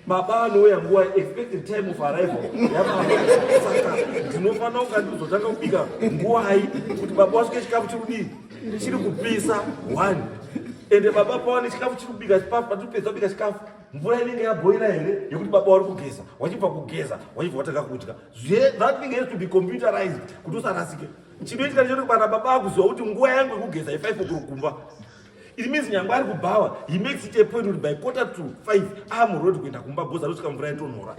baba anouya nguva expected time of arrival yabasaka ndinofanira kunga ndizotanga kubika nguvai kuti baba wasvike chikafu chiri kudii chiri kupisa one ende baba pawane chikafu chiri kubika chipafu patipedza kubika chikafu mvura inenge yabhoira here yekuti baba wari kugeza wachibva kugeza wachibva watanga kudya that thing has to be computerized kuti usarasike chinoitika ndichokuti kana baba akuziva kuti nguva yangu yekugeza i5 okuro kumba It means nyangwe ari kubhawa he makes it a point kuti by quarter to five amuroad ah, kuenda kumba bhoza rosvika mvura yatonhora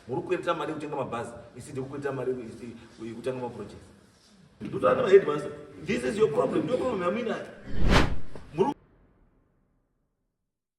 muri kuendera mari yekutenga mabhazi isi ndiri kuendera mari yekutanga maproject ndotaana maheadmas this is your problem ndoproblem yamina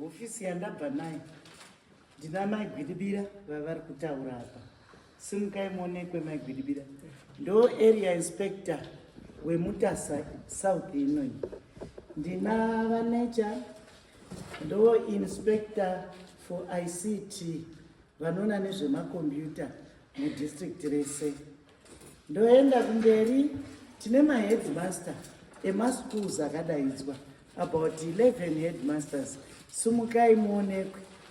hofisi yandabva nayo ndina mai gwidibira vavari kutaura apa simukai muonekwe mai gwidibira ndo area inspector wemutasa south inoyi ndina vanecha Ndo inspector for ICT vanoona nezvemakombiyuta mudistrict rese. Ndoenda kumberi tine maheadmaster emaschools akadaidzwa about 11 headmasters sumukai muonekwe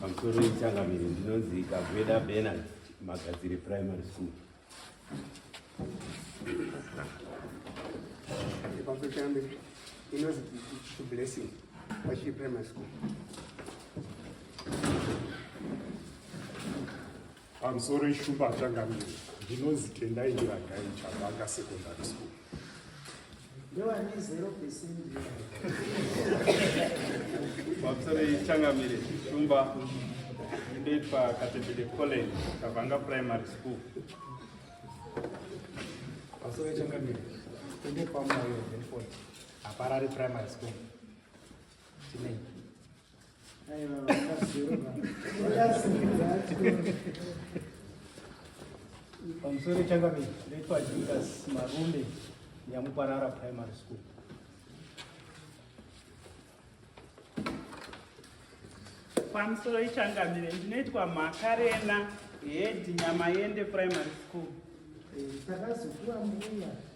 pamusoro yechangamire ndinonzi kaveda benard magadzire primary school pamusoro changamire inonzi blessing pachii primary school Pamusoro ishumba achangamire ndinonzi Tendai Ndiragai Chabanga Secondary School. Ndewani 0%. Pamusoro ichangamire ishumba ndoitwa Katebede College Chabanga Primary School. Pamusoro ichangamire ndoitwa Moyo Benford Aparari Primary School. Chinenyi. pamusoro echangamire ndaitwa judas marume nyamuparara primary school pamusoro ichangamire ndinoitwa makarena hedi nyamayende primary school eh, takazokura mbuya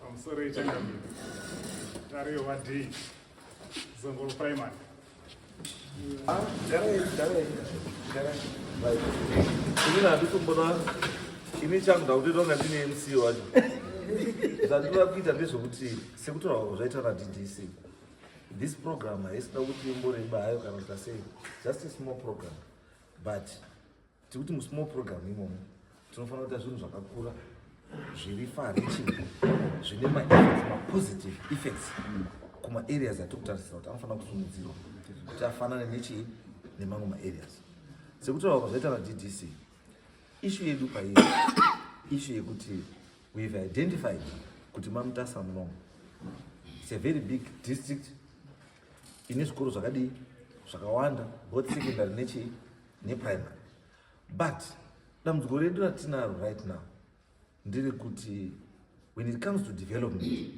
pamusoro yechangamire tariyo vadii zongoro primary inini handikumbona ini changu ndakutoita kunga ndine mc wacho zvandiva kuita ndezvekuti sekutaura zvaita naddc this program haisina kuti imboreba hayo kana kuti asei just a small program but tiri kuti musmall program imomo tinofanira kuita zvinhu zvakakura zviri fariching zvine maeffects mapositive effects kumaareas atiri kutarisira kuti anofanira kusumidzirwa kuti afanane nechii nemamwe maareas sekutaura kwazvaita vaddc ishu yedu paiyo ishu yekuti wehave identified kuti mamutasa munomo its a very big district ine zvikoro zvakadii zvakawanda both secondary nechii neprimary but dambudziko redu ratinaro right now nderekuti when it comes to development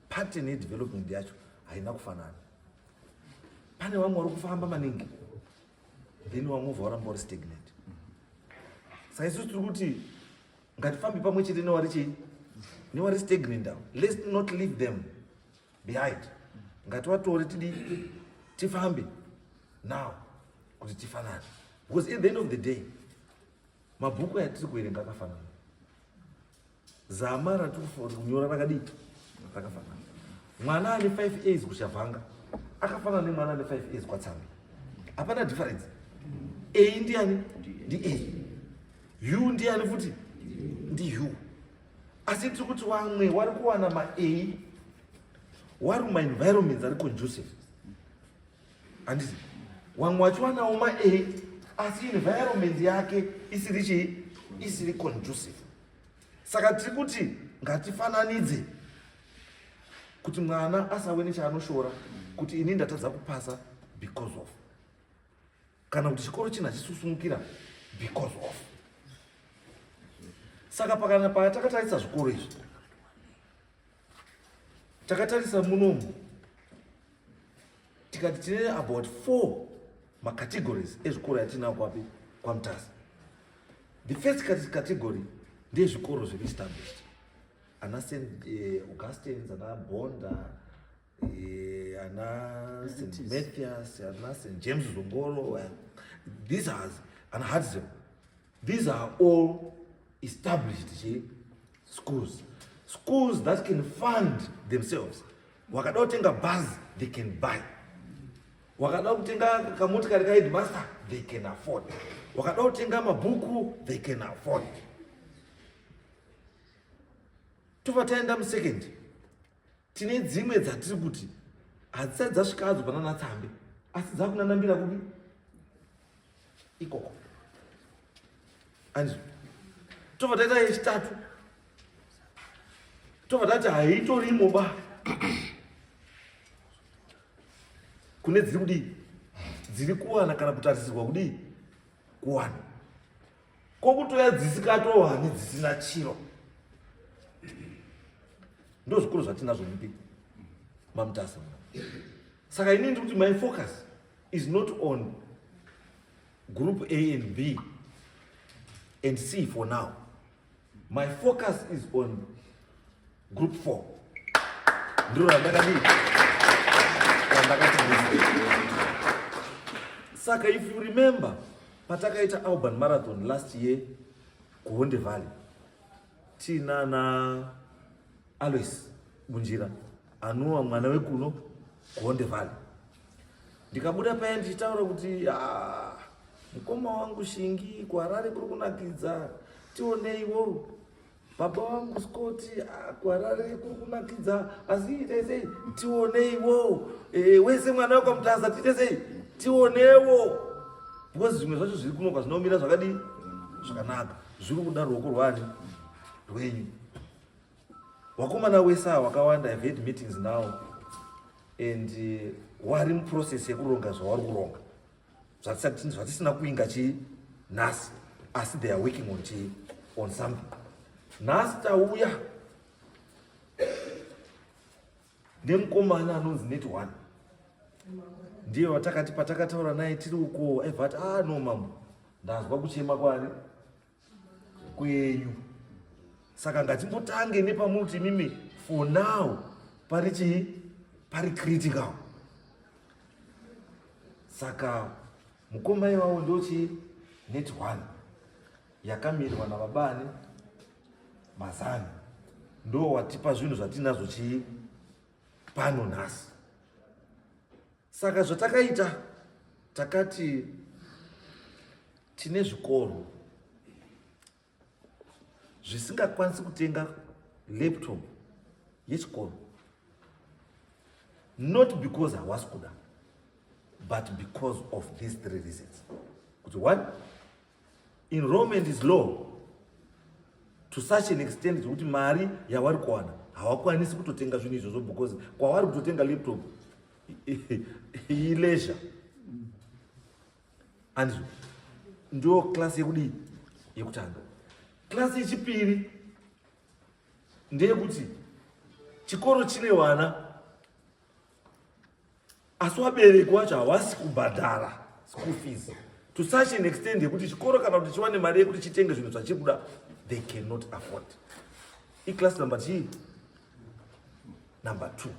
pattern yedevelopment yacho haina kufanana pane vamwe vari kufamba maningi then vamwe vova varamba vari stagnant saisusu tiri kuti ngatifambe pamwe chete newari chei newari stagnant avo let's not leave them behind ngativatore tidi tifambe now kuti tifanane because at the end of the day mabhuku yatiri kuverenga akafanana zama ratiri kunyora rakadii rakafanana mwana ane five as kuchavhanga akafanana nemwana ane five as kwatsambi hapana difference a ndiani ndi a u ndiani futi ndi u asi tiri kuti wamwe wari kuwana ma a wari ma environments ari conducive handiti wamwe wachiwanawo ma a asi environment yake isiri chii isiri conducive saka tiri kuti ngatifananidze kuti mwana asave nechaanoshora kuti ini ndatadza kupasa because of kana kuti chikoro china chisusunukira because of saka pakana paya takatarisa zvikoro izvi takatarisa munomu tikati tine about four macategories ezvikoro yatinao kwapi kwamutasi the first category ndezvikoro zviri established ana st eh, augustins ana bonda ana St. Mathias, ana St. James Zongoro, eh, these are, and Hudson, these are all established che, schools. Schools that can fund themselves. Wakada kutenga bus, they can buy. Wakada kutenga kamotikari ka headmaster, they can afford. Wakada kutenga mabhuku, they can afford. Tova taenda mu second. tine dzimwe dzatiri kuti hadzisati dzasvikadzo panana tsambe asi dzakunanambira kupi ikoko anzi tobva taita yechitatu tobva tati haitorimo ba kune dziri kudii dziri kuwana kana kutarisirwa kudii kuwana kokutoya dzisikatohani dzisina chiro ndozvikuru zvatinazvo mupi mamutasa saka ini ndiri kuti my focus is not on group a and b and c for now My focus is on group 4. Ndiro randakadii? Randakati Saka if you remember patakaita Alban Marathon last year kuHonde Valley tinana Alois Munjira anova mwana wekuno kuHonde Valley. Ndikabuda paya ndichitaura kuti ah, mukoma wangu Shingi kuHarare kuri kunakidza, tioneiwo baba wangu Scott ah, kuHarare kuri kunakidza, asi itai sei tioneiwo eh, wese mwana wekwamutaza tiite sei tionewo because zvimwe zvacho zviri kuno kwazvinomira zvakadii zvakanaka Zviri kuda ruoko rwani rwenyu. Wakomana wese awa wakawanda have had meetings now and uh, wari muprocess yekuronga zvawari kuronga zvatisina kuinga chii nhasi asi they are working on chii on something nhasi tauya Ndemukomana anonzi net one ndiye watakati patakataura naye tiri uko aibva ati ah no mambo ndanzwa kuchema kwani kwenyu saka ngatimbotange nepamuti imimi for now pari chii pari critical saka mukoma iwawo ndochii net one yakamirwa navabani Mazano ndo watipa zvinhu zvatinazvo chii pano nhasi. Saka zvatakaita takati tine zvikoro zvisingakwanisi kutenga laptop yechikoro not because hawasi kuda but because of these three reasons kuti one Enrollment is low to such an extent zvekuti mari yawari kuwana hawakwanisi kutotenga zvinhu izvozvo because kwawari kutotenga laptop ileisure andizvo ndo class yekudii yekutanga class yechipiri ndeyekuti chikoro chine vana asi wabereki wacho hawasi kubhadhara school fees to such an extent yekuti chikoro kana kuti chiwane mari yekuti chitenge zvinhu zvachiri kuda they cannot afford iclass number chii number two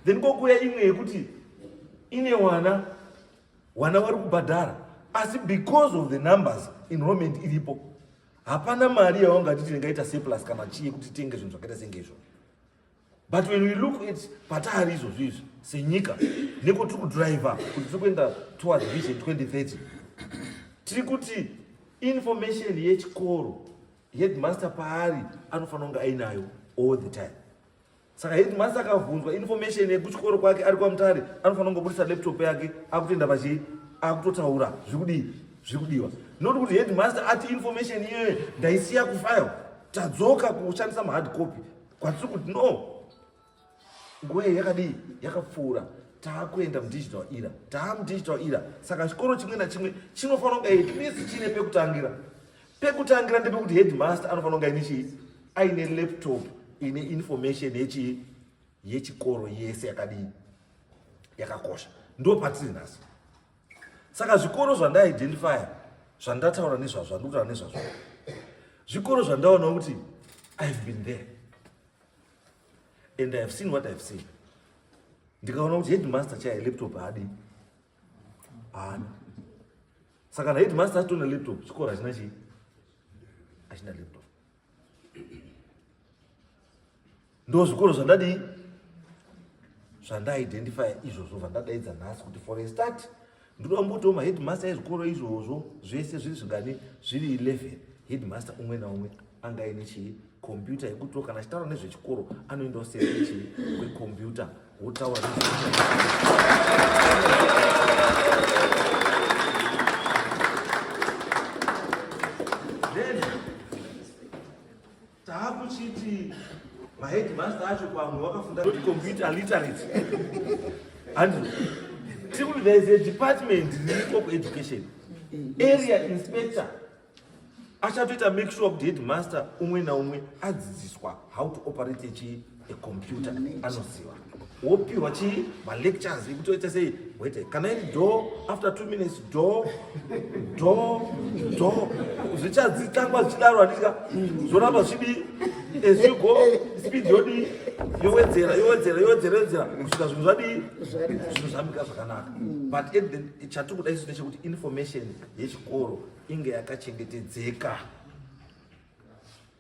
then kokuya imwe yekuti ine wana wana wari kubhadhara asi because of the numbers enrollment iripo hapana mari yawangatiti ndingaita surplus kana chii yekuti tenge zvinhu zvakaita senge izvozvo but when we look at patari izvozvi izvi senyika neko tiri kudriver kuti tiri kuenda towards vision 2030 tiri kuti information yechikoro headmaster paari anofanira kunge ainayo all the time saka headmaster akabvunzwa information yekuchikoro kwake ari kwamutare anofanira kungobudisa laptop yake akutoenda pachii akutotaura zvikudii zvikudiwa not kuti headmaster ati information iyoyo ndaisiya kufile tadzoka kushandisa mahard copy kwatiri kuti no nguva iyi yakadii yakapfuura taakuenda mudigital era taamudigital era saka chikoro chimwe nachimwe chinofanira kunge at least chiine pekutangira pekutangira ndepekuti headmaster anofanira kunge aine chii aine laptop ine information yechii yechikoro yese yakadii yakakosha ndo patiri nhasi saka zvikoro zvandaidentifya zvandataura nezvazvo zvandikutaura nezvazvo zvikoro zvandaona kuti ihave been there and ihave seen what ihave seen ndikaona kuti headmaster chaye laptop haadi haana saka naheadmaster atona laptop chikoro hachina chii hachina laptop ndozvikoro zvandadii zvandaidentifya izvozvo zvandadaidza nhasi kuti for a start ndinoda mbotiwo maheadmaster ezvikoro izvozvo zvese zviri zvingani zviri 11 headmaster umwe naumwe angaine chii computer yekuti kana chitaura nezvechikoro anoendawo sese chii kwekomputer taakuchiti maheadmaster acho pamwe wakafunda kuti computer literate andrew tikuti there is a department riri of education area inspector achatoita make sure kuti headmaster umwe naumwe adzidziswa how to operate chii ecomputer anoziva wopiwa chii malectures ekutoita sei wete kana iri do after two minutes do do do zvichadzitangwa zvichidaro handika zvoramba zvidi as you go speed yodii yowedzera yowedzera yowedzera yowedzera kusvika zvinhu zvadii zvinhu zvamika zvakanaka but chatiri kuda isu ndechekuti information yechikoro inge yakachengetedzeka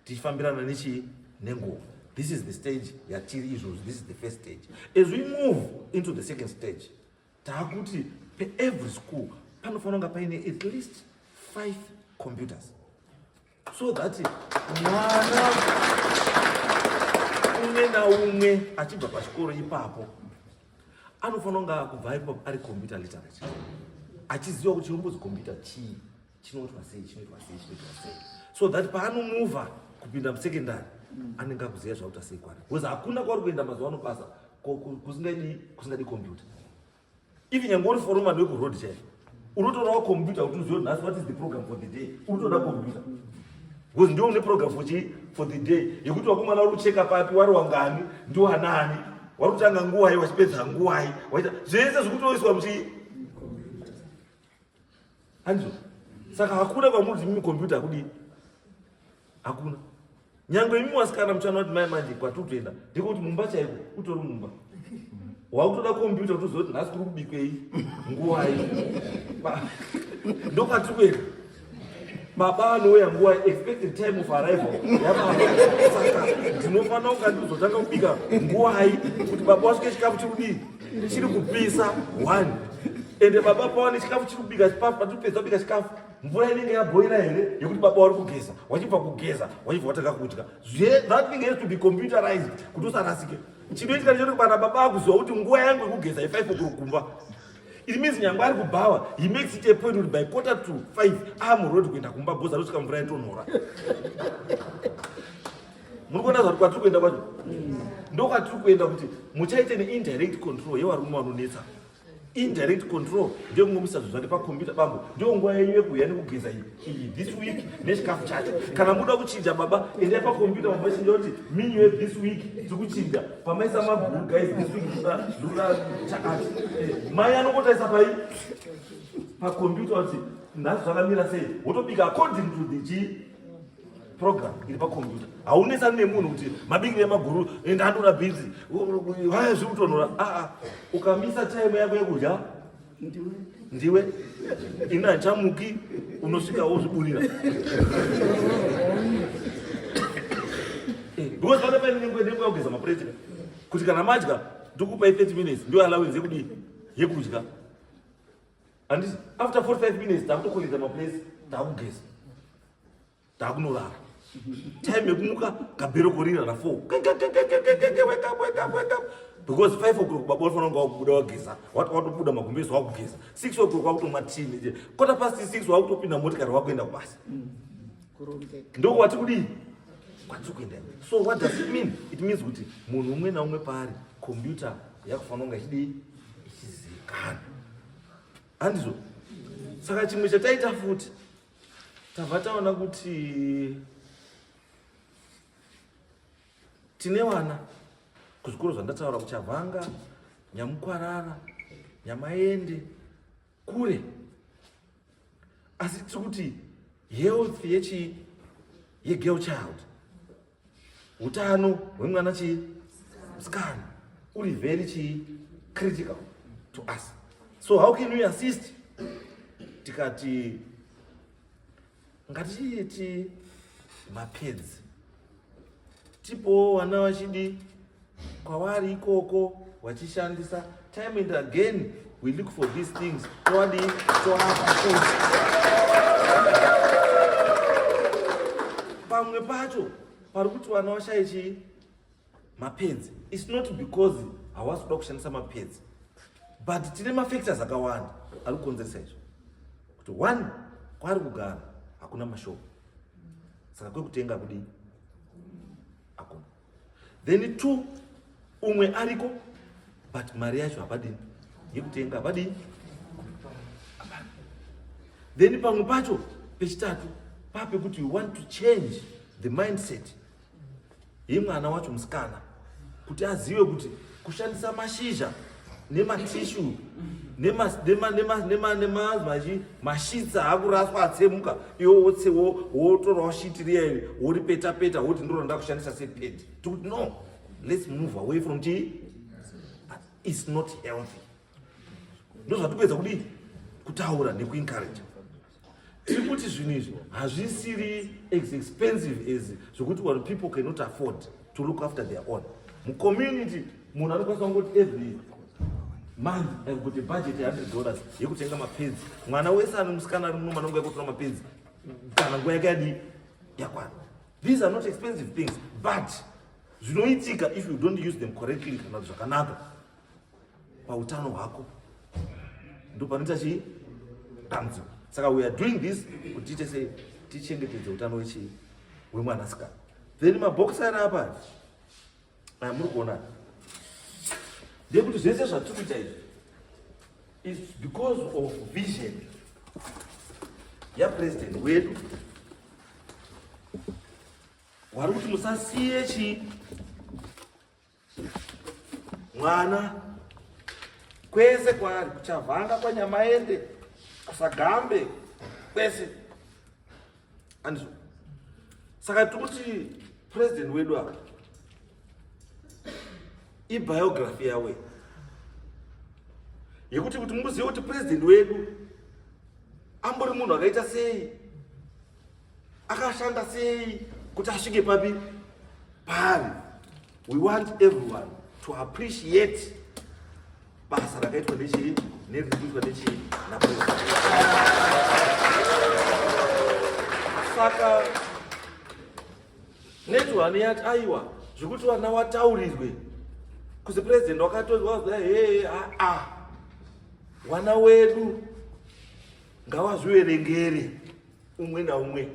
tichifambirana nechii nenguva this is the stage yatiri izvozvi this is the first stage as we move into the second stage taakuti peevery school panofanira kunga paine at least five computers so that mwana umwe naumwe achibva pachikoro ipapo anofanira kunge akubva ipapo ari computer literate achiziva kuti chinombozi computer chii chinoitwa sei chinoitwa sei chinoitwa sei so that paanomova kupinda musecondary anenge akuziva zvakuita sei kwari because hakuna kwari kuenda mazuva ano basa kusingadi computer even nyange uri foromad wekuroad chaiyo unotodawo computer kuti uzive nhasi what is the program for the day unotoda computer because ndiwo une program for chi for the day yekuti wakomana uri kucheka papi wari wangani ndiwanani wari kutanga nguwai wachipedza nguwai waita zvese zvikutoiswa muchi handizo saka hakuna kwamuri zimimi computer akudii hakuna nyangwe imi wasikana muchana kuti mai manje kwatiri kutoenda ndiko kuti mumba chaiko utori mumba wakutoda kompyuta kutoziva kuti nhasi kuri kubikwei nguvai ndokwatiri kuenda baba anouya nguva expected time of arrival yababa saka ndinofanira kunga ndizotanga kubika nguvai kuti baba wasvike chikafu chiri kudii chiri kupisa one ende baba pawane chikafu chiri kubika chipapa patipedza kubika chikafu mvura inenge yaboira here yekuti baba wari kugeza wachibva kugeza wachibva watanga kudya that thing has to be computerized kuti usarasike chinoitika ndichoti kana baba akuziva kuti nguva yangu yekugeza ifive okuro kumba it means nyangwe ari kubhawa he makes it a point kuti by quarter to five amuroad kuenda kumba bhozi anosvika mvura yatonhora muri kuona zvati kwatiri kuenda kwacho ndokwatiri kuenda kuti muchaite neindirect control yevarume vanonetsa indirect control ndeyokungomisa zvinhu zvake pakombiyuta bambo ndiyo nguva yenyu yekuuya nekugeza iyi this week nechikafu chacho kana muda kuchinja baba endai pakombiyuta mabachinja kuti minyu ye this week tikuchinja pamaisa maguru guys this week zvoda chakati eh, mai anongotaisa pai pakombiyuta kuti nhasi zvakamira sei wotobika according to the chii program iri pakombiyuta haunesani nemunhu kuti mabingi emaguru enda andora bhinzi vaya zviri kutonhora aa ah, ah. ukamisa time yako yekudya ndiwe ini handichamuki unosvika wozviburira eh, because pane paine nenguva nenguva yekugeza mapureti kuti kana madya ndokupai 30 minutes ndio allowance yekudii yekudya Handisi after 45 minutes takutokolidza maplace takugeza. Takunorara. Time yekumuka kabhero korira na 4. Wake up wake up wake up. Because 5 o'clock baba unofanira kunge wakubuda wageza. Wati watobuda magumbezi wakugeza. 6 o'clock wakutomwa tea. Quarter past 6 wakutopinda motikari wakuenda kubasa. Mm. Ndoko wati kudii? Kwati kuenda. So what does it mean? It means kuti munhu umwe na umwe paari computer yakufanira kunge ichidii? ichizivikanwa handizvo saka chimwe chataita futi tabva taona kuti tine vana kuzvikoro zvandataura kuchavhanga nyamukwarara nyamaende kure asi tiri kuti health yechii yegirl child Utano hwemwana chii? Musikana. Uri very chii? Critical to us. So how can we assist? Tikati ngatiiti mapedzi tipowo vana vachidi kwavari ikoko vachishandisa time and again we look for these things towadi toapa futi pamwe pacho pari kuti vana vashaye chii mapenzi its not because hawasi kuda kushandisa mapenzi but tine mafactors akawanda ari kukonzeresa izvo kuti one kwaari kugara hakuna mashopo saka kwekutenga kudii then two umwe ariko but mari yacho hapadini yekutenga hapadini then pamwe pacho pechitatu pape kuti you want to change the mindset yemwana wacho musikana kuti azive kuti kushandisa mashizha nematishu nemazvachi mashitsa akuraswa atsemuka iwo wotse wotorawo shiti riya iri woripeta peta woti ndiro randa kushandisa sepedi tikuti no let's move away from chii its not healthy ndozvatikuedza kudii kutaura nekuencourage tiri kuti zvinhu izvi hazvisiri as expensive as zvokuti one people cannot afford to look after their own mucommunity munhu anokwanisa kungoti every month i've got a budget yehundred dollars yekutenga mapenzi mwana wese ano musikana ari munoma anonga yekutora mapenzi kana nguva yake yadii yakwana these are not expensive things but zvinoitika if you don't use them correctly kana kuti zvakanaka pautano hwako ndopanoita chii dambudziko saka we are doing this kuti tiite sei tichengetedze utano wechii wemwanasikana then mabhokisi ari apa aya muri kuona ndekuti zvese zvatiri kuita izvi is because of vision yapresident wedu wari kuti musasiye chii mwana kwese kwaari kuchavanga kwanyamaende kusagambe kwese andizvo saka tikuti president wedu apa ibiography yawe yekuti kuti muzive kuti president wedu ambori munhu akaita sei akashanda sei kuti asvike papi paari we want everyone to appreciate basa rakaitwa nechii neriri kuitwa nechii napresi saka netihani yati aiwa zvekuti vana wataurirwe kuzi president wakatonzwa zai hee aa wana wedu ngawazviverengere umwe naumwe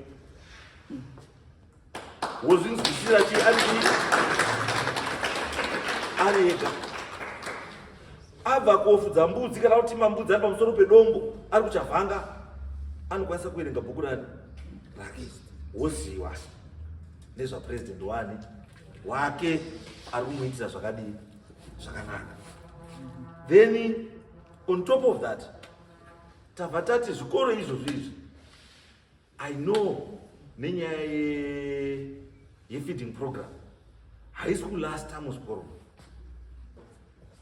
wozvinzwisira chii ari chii ari ega abva kofudza mbudzi kana kuti mambudzi ari pamusoro pedombo ari kuchavhanga anokwanisa kuverenga bhuku rani rake woziva nezvapurezidendi wani wake ari kumuitira zvakadii zvakanaka then on top of that Tabva tati zvikoro izvozvo izvi I know nenyaya ye, ye feeding program haisi kulasta muzvikoro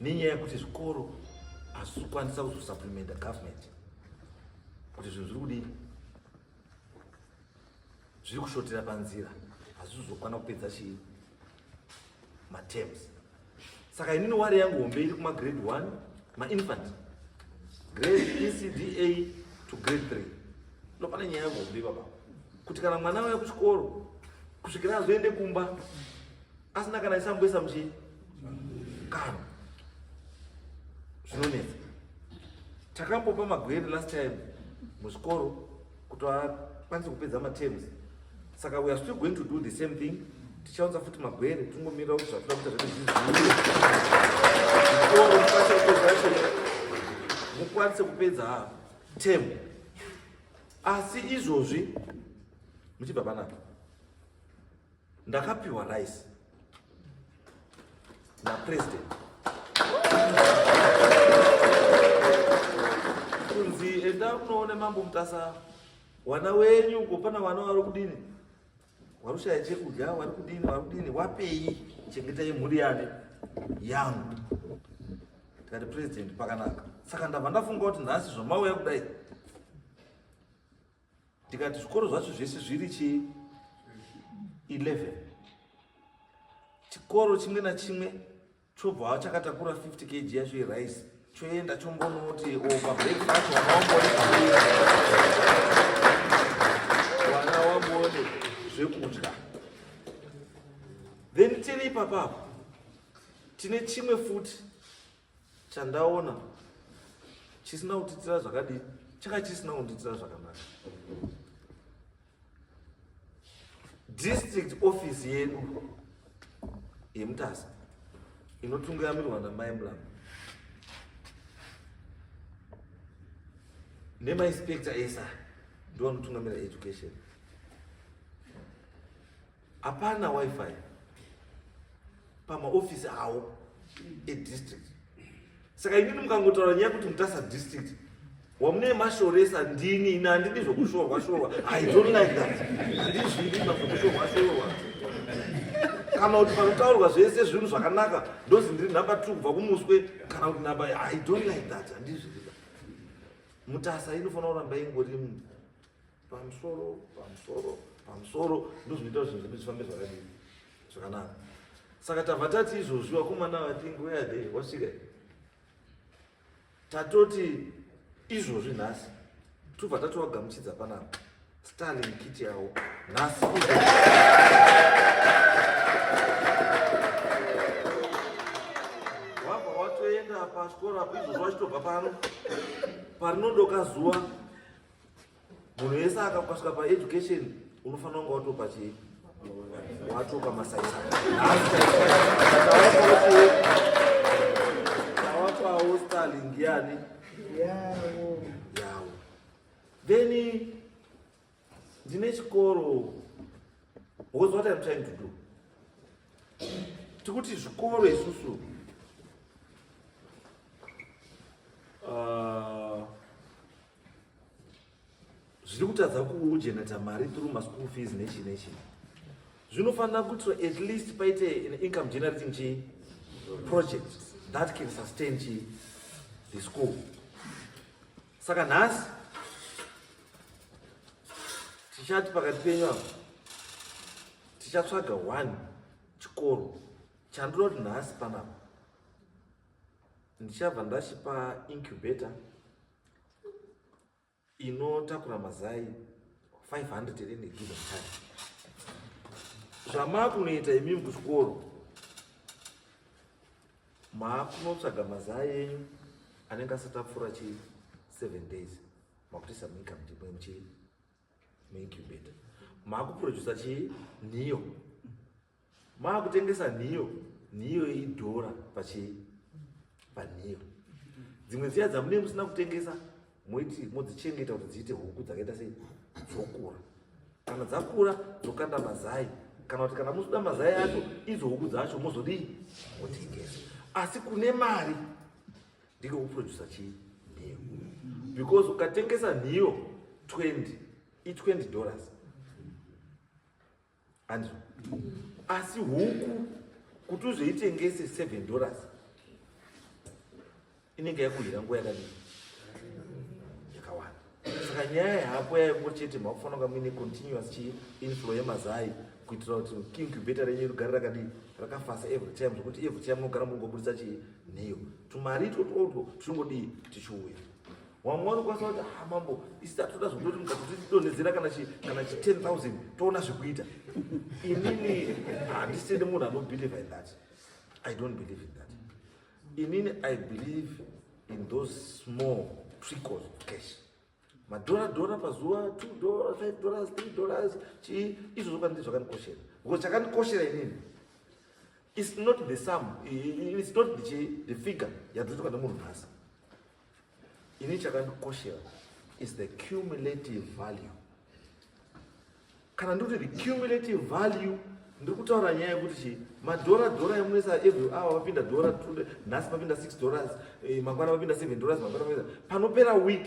nenyaya yekuti zvikoro hazvikwanisa kuzosupplementa government kuti zvinhu zviri kudii zviri kushotera panzira hazvizokwana kupedza chii matems saka inini wari yangu hombe iri kuma grade 1 mainfant grade ecda to grade 3 ndopane nyaya yangu hombe baba kuti kana mwana waya kuchikoro kusvikira azoende kumba asina kana chisamboisa muchii karo zvinonetsa takambopa magwere last time muzvikoro kuti akwanise kupedza matems saka we are still going to do the same thing tichaunza futi magwere tingomirira kuti zvatoda kuita zvati zviziiekoro mukwanise kupedza tem asi izvozvi muchibva panapa Ndakapiwa rice na president kunzi enda unoone mambo mutasa wana wenyu uko pana wana wari kudini wari kushaya chekudya wari kudini wari kudini wapei chengetai mhuri yane yangu tikati president pakanaka saka ndabva ndafunga kuti nhasi zvamauya kudai ndikati zvikoro zvacho zvese zviri chi 11 chikoro chimwe nachimwe chobva chakatakura 50 kg yacho yerice choenda chombonoti pabreak pacho vana wambone zvekudya then tiri ipapapo tine chimwe futi chandaona chisina kutiitira zvakadii changa chisina kundiitira zvakanaka district office yedu yemutasa inotungiramirwa namai mlama nemainspector esa ndiwo anotungamira education Hapana wifi pamaofisi awo edistrict. Saka imini mukangotaura nyaya kuti mutasa district wamune mashoresa ndini ini handidi zvokushorwa shorwa i don't like that handidi zvinima zvokushorwa shorwa kana kuti panotaurwa zvese zvinhu zvakanaka ndozi ndiri nhamba two kubva kumuswe kana kuti nhamba i don't like that handizvirida mutasa inofanira kuramba ingori pamusoro pamusoro pamusoro ndozvinoita kuti zvinhu zvedu zvifambe zvakadii zvakanaka saka tabva tati izvozvi vakomana vatingi where are they wasvika tatoti izvozvi nhasi tobva tatovagamuchidza panapa starling kiti yavo nhasi wabva watoenda pachikoro apo izvozvi wachitobva pano parinodoka zuva munhu yese akakasvika paeducation unofanira kunge watopa chii watopa masaisaawakwawo starling yani yawo then ndine chikoro was what im trying to do tikuti zvikoro isusu uh, zviri kutadza kugeneta mari through maschool fees nechi nechi zvinofanira kuitwa at least paite an income generating chi project that can sustain chi the school saka nhasi tichati pakati penyu apo tichatsvaga one chikoro chandinoda kuti nhasi panapa ndichabva ndachipa incubator inotakura mazai 500 here negiza mutatu zvamakunoita imimi kuchikoro maakunotsvaga mazai enyu anenge asati apfuura chi 7 days makutoisa muincome ndipo muchi muincubator maakuproducer chii niyo maakutengesa nhiyo nhiyo idhora pachii panhiyo dzimwe dziya dzamune musina kutengesa moiti modzichengeta kuti dziite huku dzakaita sei dzokura kana dzakura dzokanda mazai kana kuti kana muzoda mazai acho idzo huku dzacho mozodii motengesa asi kune mari ndiko kuprodusa chii nhiyo because ukatengesa nhiyo 20 i 20 dollars hanzwa asi huku kuti uzoitengese seven dollars inenge yakuhira nguva yakadii yakawanda saka nyaya yako yaivo chete makufanira kunga muine continuous chii inflow yemazai kuitira kuti incubator renyu rigare rakadii rakafasa every time zvekuti every time unogara mungobudisa chii nheyo tumari itwotwotwo tuchingodii tichiuya wamwe vanokwanisa kuti ha ah, mambo isi tatoda zvekutoti mukatotidonhedzera kana chi kana chi 10000 toona zvekuita inini handisini munhu anobelieve in that i don't believe in that inini i believe in those small trickles of cash madhora dhora pazuva two dollars five dollars three dollars chii izvo zvokanzi zvakandikoshera because chakandikoshera inini it's not the sum it's not the, the figure yadzotwa nemunhu nhasi Ini chakandikoshera is the cumulative value. Kana ndikuti the cumulative value ndiri kutaura nyaya yekuti chi madhora dhora emunoisa every hour vapinda dhora tude nhasi vapinda six dollars eh, mangwana vapinda seven dollars mangwana vapinda panopera week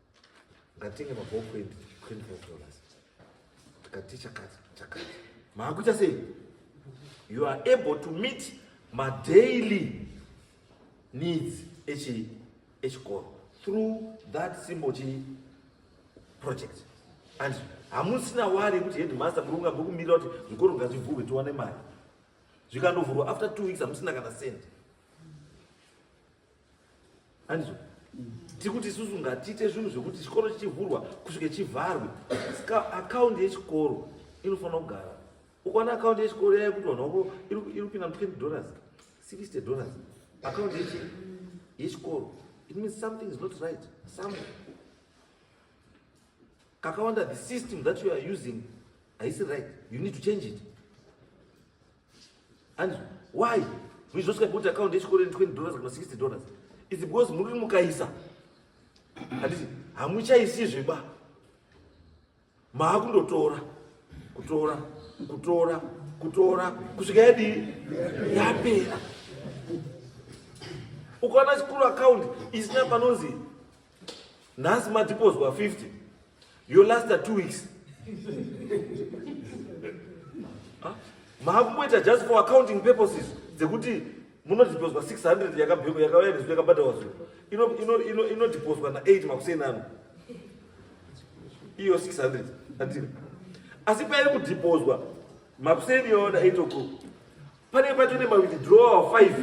ngatenge mabhoo kwendi 25 dollars tikati chakati chakati maakuita sei you are able to meet madaily needs echi echikoro through that symbol chi project and hamusina wari yekuti headmaster muri kunga muri kumirira kuti zvikoro ngazvivhurwe tiwane mari zvikandovhurwa after two weeks hamusina kana cent Andizvo. Tikuti isusu ngatiite zvinhu zvekuti chikoro chichivhurwa kusvike chivharwe. Ska account yechikoro inofanira kugara. Ukaona account yechikoro yaye kuti vanhu vako iri kupinda 20 dollars, 60 dollars. Account yechi yechikoro. It means something is not right somewhere. Kakawanda the system that you are using haisi right. You need to change it. Hanzi why we just got boot account yechikoro in 20 dollars kana 60 dollars is because muri mukaisa handiti hamuchaisizve ba maakundotora kutora kutora kutora kusvika yadii yapera ukaona chikuru akaundi isina panonzi nhasi madipozwa 50 Your last two weeks. huh? Maakumboita just for accounting purposes dzekuti munodipozwa 600 yakabheko yakavayaniswa yakabhadharwa zvo inodipozwa ino, ino, ino na8 makuseni ano iyo 600 andiri asi pairi kudipozwa makuseni yoona 8 o'clock panenge patone mawithdrawal five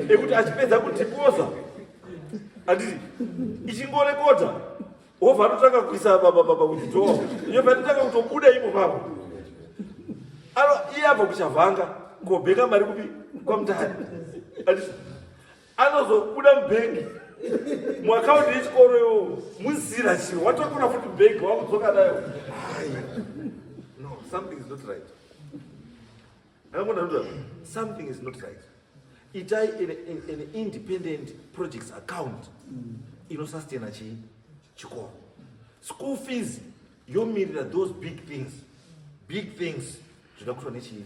ekuti achipedza kudhipoza handiti ichingorekota hova anotanga kuisa withdrawal iyo panotanga kutobuda imo pavo iye abva kuchavhanga kobheka mari kupi kwamutari handiti anozobuda mubhengi muakaunti yechikoro iwowo muzira chiro watokuna futi bhengi wakudzoka nayo no something is not right akambonanuda something is not right itai an independent projects account inosastena chii chikoro school fees yomirira those big things big things zvinoda kutwa nechii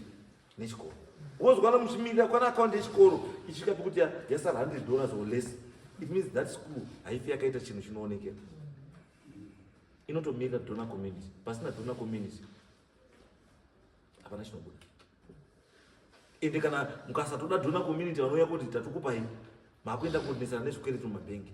nechikoro wozwana muchimirira kwana account yechikoro isvika pekuti yasara 100 dollars or less it means that school haifi yakaita chinhu chinoonekera inotomirira dona community pasina dona community hapana chinobuda ende kana mukasatoda dona community vanouya kuti tatokupai makuenda kuonesana nezvikwereti mumabhengi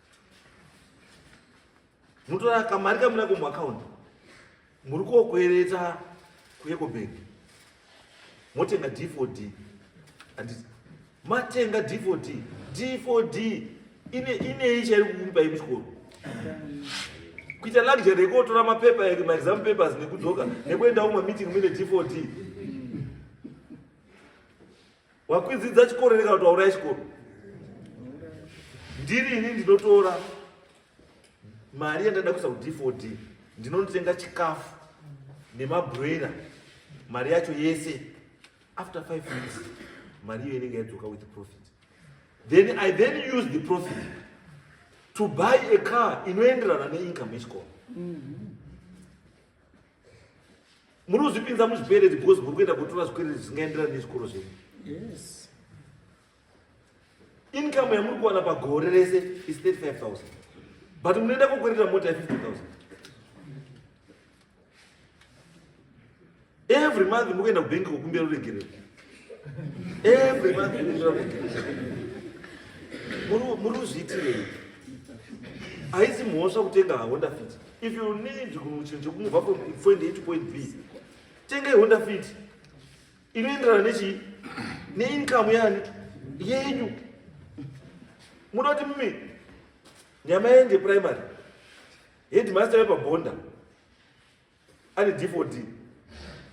mutora kamari kamunako muakaunti muri kokwereta kuecobank motenga d for d handiti matenga d for d d for d inei chairi kukupai muchikoro kuita luxury yekuotora mapepa eke maexam papers nekudzoka nekuendawo mameeting mine d for d Wakwidzidza chikoro rega kuti wauraya chikoro. Ndiri ini ndinotora mari yandada kuisa kuDFOD ndinonotenga chikafu nemabroiler mari yacho yese after five weeks mari iyo inenge yadzoka with profit then i then use the profit to buy a car inoenderana neincome yechikoro mm -hmm. munozvipinza muzvikwereti because muri kuenda kutora zvikwereti zvisingaenderani nezvikoro zvenyu yes income yamuri kuwana pagore rese is 35000 but munoenda kokwereta mota ye50000 every month muri kuenda kubenki kokumbira ruregerero every month mukumbira ruregerero muri kuzviitirei haisi mhosva kutenga haonda fiti If you need kuchinja kumubva from point A to point B, tenga Honda Fit inoenderana nechi neincome yani yenyu. Muda kuti mimi nyama yende primary headmaster wepabonda Ani D4D.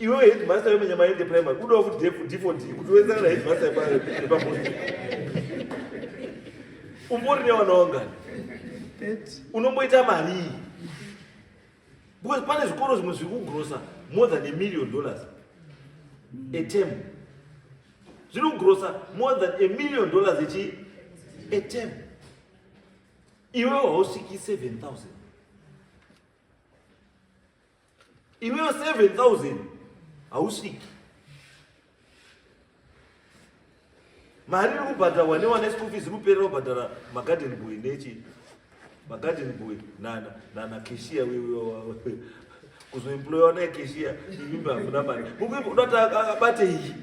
Iwe headmaster yo menyama yende primary. Kudo futi defu D4D. Kuti wenzana na headmaster pa pa post. Umbori ne wanaonga. Unomboita mari. Because pane zvikoro zvimwe zviri kugrosa more than a million dollars a term. Zviri kugrosa more than a million dollars a chi a term. Iwe hausviki 7000. Iwewe 7000 hausviki. Mari iri kubhadharwa newana school fees inoperera kubhadhara magarden boy nechi magarden boy nana nana cashier wewe kuzoemployewa naye cashier imimba hakuna mari. Mukuda kuti abate iyi.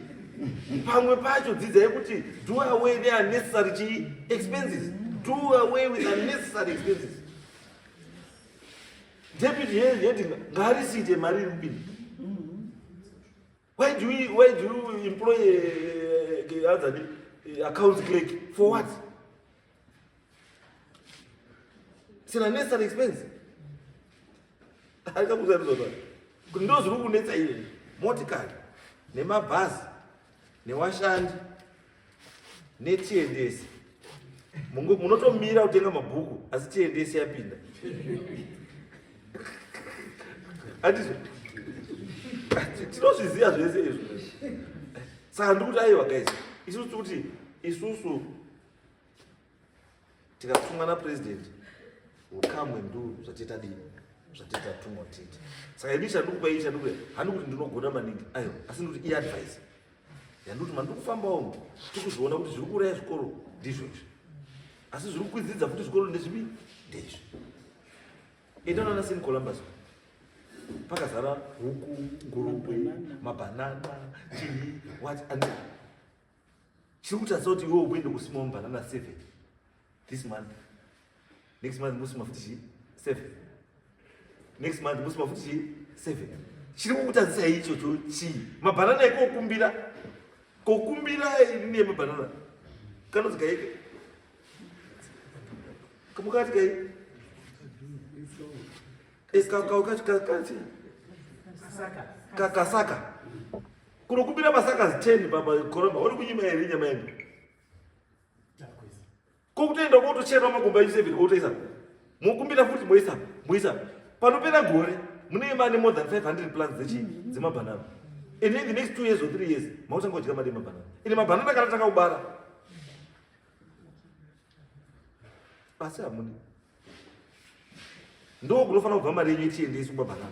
Pamwe pacho dzidzai kuti do away ne unnecessary chi expenses. Do away with unnecessary expenses. David here yet ngarisite mari iri kupinda why do we why do you employ uh, other uh, account clerk for what sina nesa expense ari kakuza rizwa zvake kuti ndo zviri kunetsa iri motikari nemabhazi newashandi netiendese munotomira kutenga mabhuku asi tiendese yapinda atizvo tinozviziva zvese izvo saka ndikuti aiwa guys isusu kuti isusu tikatumwa napresident ukamwe ndo zvatiita dii zvatiita tumwa tiita saka ini chandukupa ii chandukupa handi kuti ndinogona maningi ayo asi ndikuti iadvice yandikuti mandiri kufambawo mu tikuzviona kuti zviri kuuraya zvikoro ndizvo izvi asi zviri kukwidzidza futi zvikoro ndezvipi ndezvi endanana seni columbus pakazara huku ngurukwe mabhanana chii wat and chiri kutadza kuti iwe uende kusima mbanana seven this month next month musima futi chii seven next month musima futi chii seven chiri kukutadzisa ichocho chii mabhanana ekokumbira kokumbira ine mabhanana kanonzi kaike kamukati kai kakaukachi kakati kakasaka Kunokumbira masakazi 10 baba koramba uri kunyima here nyama yedu. Ko kutoenda kotochera makumba edu 7 kotoisa. Mokumbira futi moisa moisa. Panopera gore mune mane more than 500 plants dzechi dzemabanana. And in the next 2 years or 3 years mautanga kudya mari mabanana. Ine mabanana kana takaubara. Asi hamuni. Ndo kunofanira kubva mari yenyu ichiendeswa mabanana.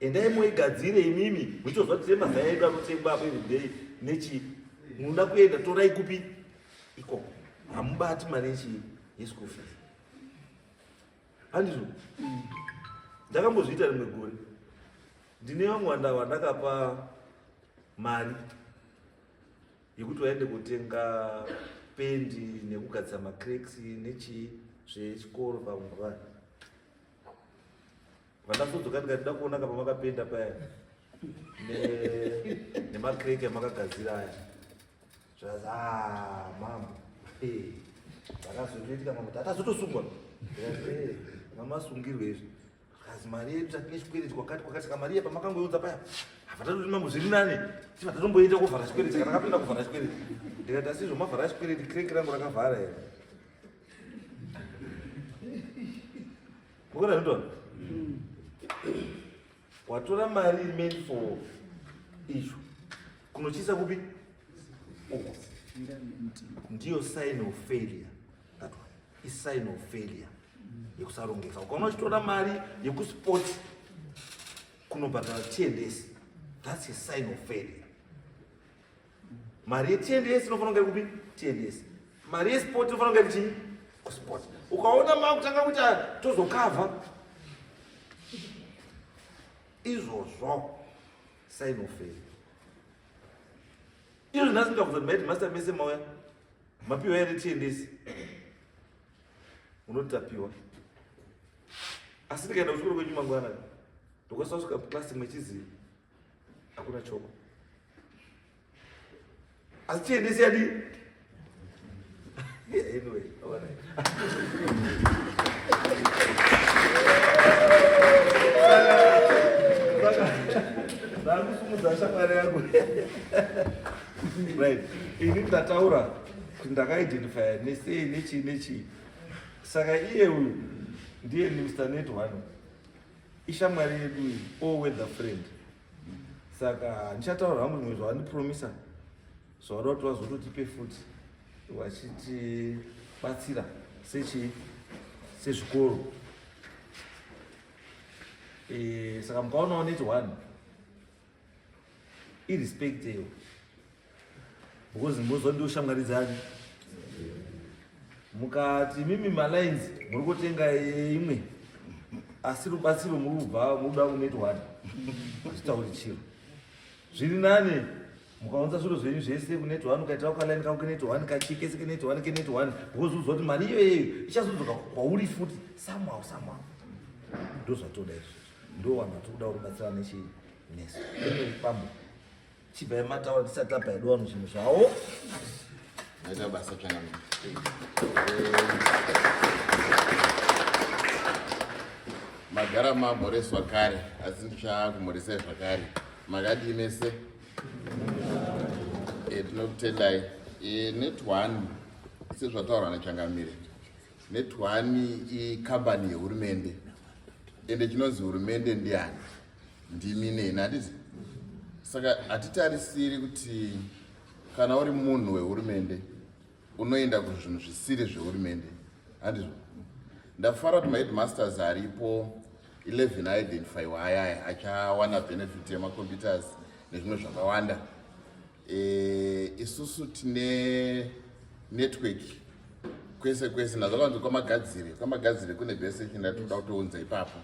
Endai moigadzire imimi muchizwa kuti mazai edu anotengwa apo everyday nechi munoda kuenda torai kupi ikoko hamubati mari yechii yeschool fees handizvo ndakambozviita rimwe gore ndine vamwe vanda vandakapa mari yekuti vaende kutenga pendi nekugadzira macraks nechii zvechikoro pamwe vanhu Vandasodzoka ndikatida kuona kapa makapenda paya nemakreke amakagadzira aya zvikazi ah, mambo zvakazotoitika mambo tatazotosungwa mamasungirwe izvi zvikazi mari yedu tatine chikwereti kwakati kwakati saka mari yepamakangoiudza paya havatatotii mambo zviri nani ti vatatomboita kuvhara chikwereti kana kapinda kuvhara chikwereti ndikati asi izvo mavhara chikwereti kreke rangu rakavhara here Mukona zvitona. Mm. Watora mari meant for issue. Kunochisa kupi? Uko. Ndiyo sign of failure. That one. Is sign of failure. Yekusarongeka. Ukaona uchitora mari yekusport kunobhadhara tiendesi. That's a sign of failure. mari yetns inofanira kunge kupi tns mari yesport inofanira kunge chii kusport ukaona makutanga kuita tozokavha izvozvo sainoferi izvo nhasi ndakuzoti maiti master mese mauya mapiwa here tns unoti tapiwa asi ndikaenda kuchikoro kwenyu mangwana ndokasasvika klasi mwechiziva hakuna choko Asi tiendese yadi. Yeah, anyway, all right. ndakusimudza shamwari yangu right ini ndataura kuti ndakaidentifya nesei nechii nechii saka iye uyu ndiye mr net one ishamwari yedu iyi o weather friend saka handichataura hangu zvimwe zvavandipromisa zvavada kuti vazototipe futi vachitibatsira sechii sezvikoro e, saka mukaonawo neti one irespect iyo because mbozo ndo shamwari dzani mukati mimi malines muri kutenga imwe asi rubatsiro muri kubva muda kunetwani hazvitauri chiro zviri nane mukaunza zviro zvenyu zvese kunetwani ukaitira kukalaini kako kenetwani kachikese kenetwani kenetwani because uzwa kuti mari iyoyeyo ichazodzoka kwauri futi somehow somehow ndozvatoda izvo ndowanhu atikuda kubatsira nechii nesu pambo Chibaya mataura tisati tabaya do vanhu zvinhu zvavo. Ndaita basa tsvana. Magara mamhoreswa kare asi ndichava kumhoresai zvakare. Makadii mese? Eh, tinokutendai. Eh, netwani sezvataurwa nachangamire netwani ikambani yehurumende ende chinonzi hurumende ndiani ndimi neni handiti saka hatitarisiri kuti kana uri munhu wehurumende unoenda kuzvinhu zvisiri zvehurumende handizvo ndafara kuti maheadmasters aripo 11 aidentifyiwa ayaya achawana benefit yemacomputers nezvimwe zvakawanda Eh, isusu tine network kwese kwese nazvo kanzi kwamagadzire kwamagadzire kune bese china tinoda kutounza ipapo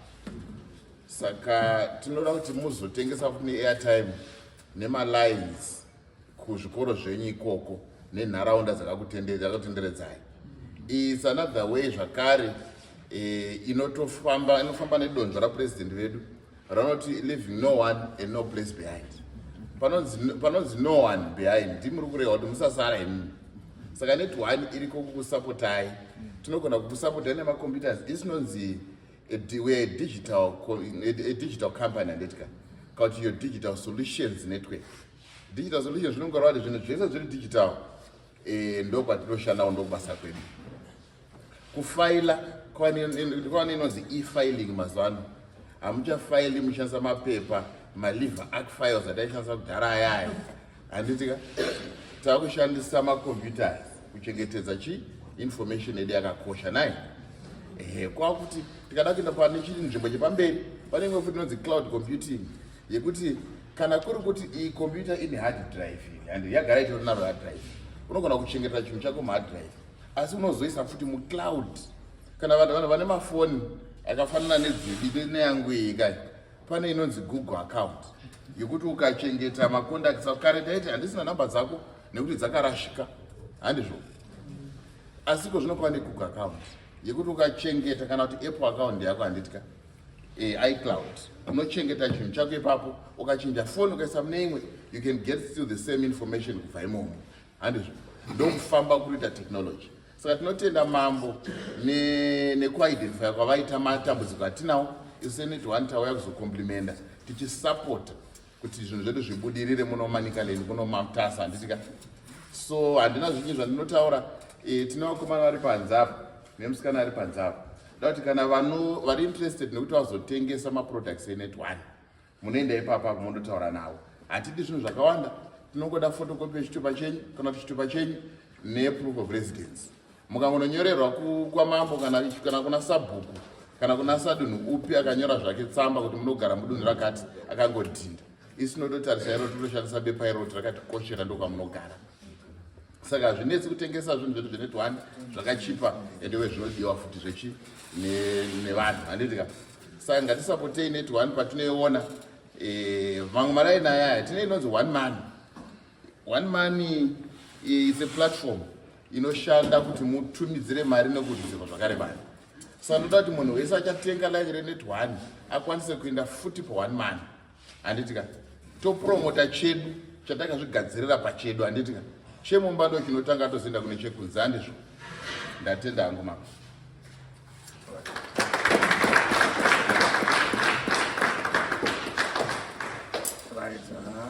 saka tinoda kuti muzotengesa futi neairtime nemalines kuzvikoro zvenyu ikoko nenharaunda dzakakutenderedzai is another way zvakare eh, inotofamba inofamba nedonzvo rapurezidendi vedu ranoti leaving no one and no place behind panonzi no one behind ndimuri kureva kuti musasara imi saka net one iriko kukusapotai tinogona kukusapotai nemacomputers isi nonzi weare digital a digital company anditika kana kuti your digital solutions network digital solutions zvinonga rwati zvinhu zvese zviri digital eh, ndokwatinoshanda ko ndokubasa kwedu kufaila kwane inonzi e-filing mazuva ano hamuchafaili muchishandisa mapepa maliver arc files ataishandisa kudhara ayaya handitika tava kushandisa macomputers kuchengetedza chi information yedu yakakosha nai ehe kwakuti tikada kuenda pane chii nzvimbo chepamberi pane imwe futi inonzi cloud computing yekuti kana kuri kuti iyi computer ine hard drive and yagara itori naro hard drive unogona kuchengetera chinhu chako muhard drive asi unozoisa futi mucloud kana vanhu vanhu vane mafoni akafanana nedzidi neyangu iyi kai pane inonzi google account yekuti ukachengeta macontacts ako kare ndaiti handisina number dzako nekuti dzakarashika handizvo asi ko zvinokuva negoogle account yekuti ukachengeta kana kuti apple account yako handitya e, eh, icloud unochengeta chinhu chako ipapo ukachinja foni ukaisa mune imwe you can get still the same information kubva imomo handizvo ndokufamba kuita technology saka tinotenda mambo nekuidentifya ne kwavaita matambudziko atinawo isu seneti one tauya kuzokomplimenda tichisapota kuti zvinhu zvedu zvibudirire muno manicaland kuno matasa handitika so handina zvinyi zvandinotaura e, tine vakomana vari panze apo nemusikana ari panze apo nda kuti kana vanhu vari interested nekuti vazotengesa maproducts enet one munoenda ipapa kumondotaura navo hatidi zvinhu zvakawanda tinongoda fotokopi yechitupa chenyu kana kuti chitupa chenyu neproof of residence mukangononyorerwa kwamambo kana kuna sabhuku kana kuna sadunhu upi akanyora zvake tsamba kuti munogara mudunhu rakati akangodhinda isu nototarisai roti toshandisa bepa iroti rakatikoshera ndokwamunogara saka hazvinetsi kutengesa zvinhu zvedu zveneti one zvakachipa ende we zvinodiwa futi zvechi nevanhu handiti ka saka ngatisapotei neti one patinoiona eh, mamwe marai naya aya tine inonzi one money one money eh, is a platform inoshanda kuti mutumidzire mari nekutumidzirwa zvakare mari saka ndoda kuti munhu wese achatenga like reneti one akwanise kuenda futi pa one money handiti ka topromota chedu chatakazvigadzirira pachedu handiti ka chemumba ndo chinotanga atozoenda kune chekunze handizvo ndatenda hangu mama right, uh -huh.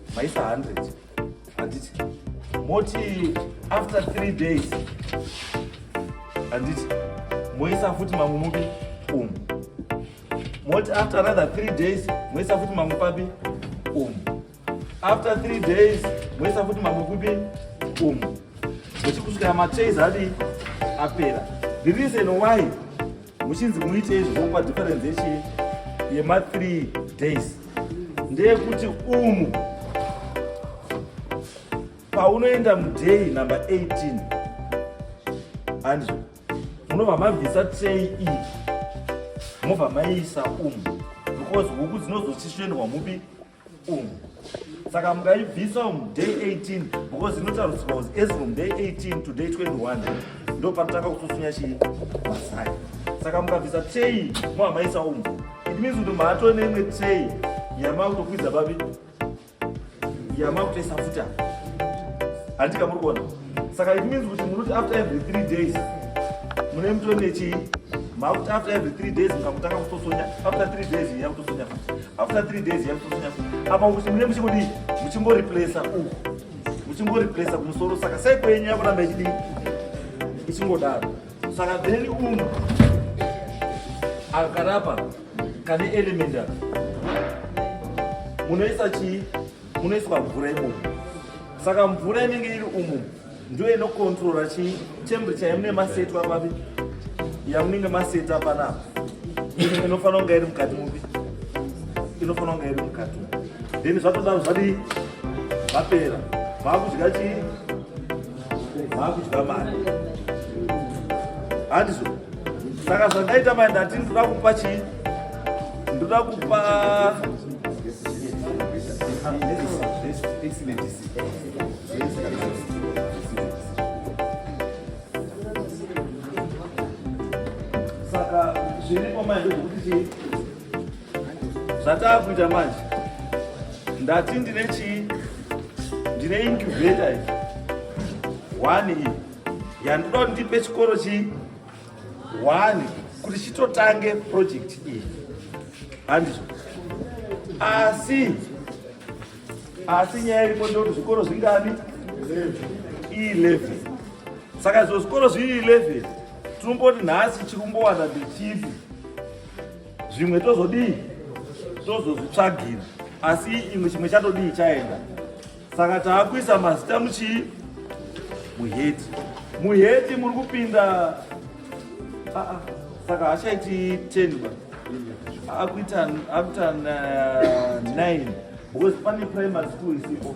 maisa 100 handiti moti after three days handiti moisa futi mamwe mupi umu moti after another three days moisa futi mamwe papi umu after three days moisa futi mamwe kupi umu muchikusvikira machase adi apera the reason why muchinzi muite izvi zvokupa difference yechii yema 3 days ndeyekuti umu paunoenda muday number 18 hanzvo munobva mabvisa trey iyi mobva maiisa umu because huku dzinozochisvendwa mupi umu saka mungaibvisa umu day 18 because inotarudzirwa was as from day 18 to day 21 ndo panotanga kutsusunya chii masai saka mukabvisa tray mohamaisa umu it means kuti maatove neimwe tray yamakutokwidza babi yamakutoisa futa handika muri kuona saka it means kuti munoti after every three days mune mutore nechii makuti after every three days mukakutanga kutosonya after three days iya kutosonya futi after three days iya kutosonya futi apa kuti mune muchingodii muchingoreplesa uku muchingoreplesa kumusoro saka sei kwenyu yakuramba ichidii ichingodaro saka then umu akarapa kane element apa munoisa chii munoiswa mvura imomo saka mvura inenge iri umo ndiyo inokontrora chii temperature yamune masetwa papi yamunenge maseta panapa inofanira kunga iri mukati mupi inofanira kunga iri mukati then zvatodaro zvadii vapera vaakudya chii vaakudya mari handizvo saka zvandaita mai ndati ndikuda kupa chii ndoda kupa saka zviripo manje zvekuti chii zvataakuita manje ndati ndine chii ndine incubator one iyi yandoda kuti ndipe chikoro chii one kuti chitotange project iyi handizvo asi asi nyaya iripo ndekuti zvikoro zvingani ileven saka izvo zvikoro zviri ileven tinomboti nhasi chiri kumbowana ndechipi zvimwe tozodii tozozvitsvagira asi imwe chimwe chatodii chaenda saka taakuisa mazita muchii muheti muheti muri kupinda ah, ah. saka hachaiti 10 ba akuita akuita 9 uh, because pane primary school isipo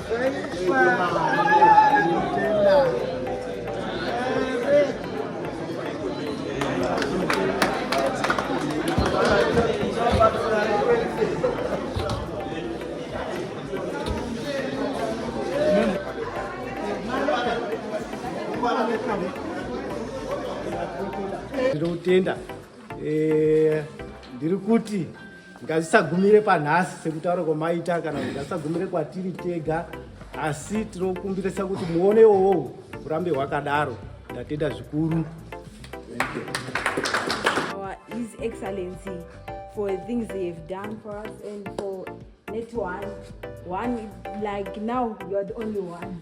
ndinotenda eh, ndiri kuti ngazvisagumire panhasi sekutaura kwamaita kana kuti ngazvisagumire kwatiri tega asi tinokumbirisa kuti muone iwowo urambe hwakadaro ndatenda zvikuru his excellency for things he have done for us and for net one one like now youare the only one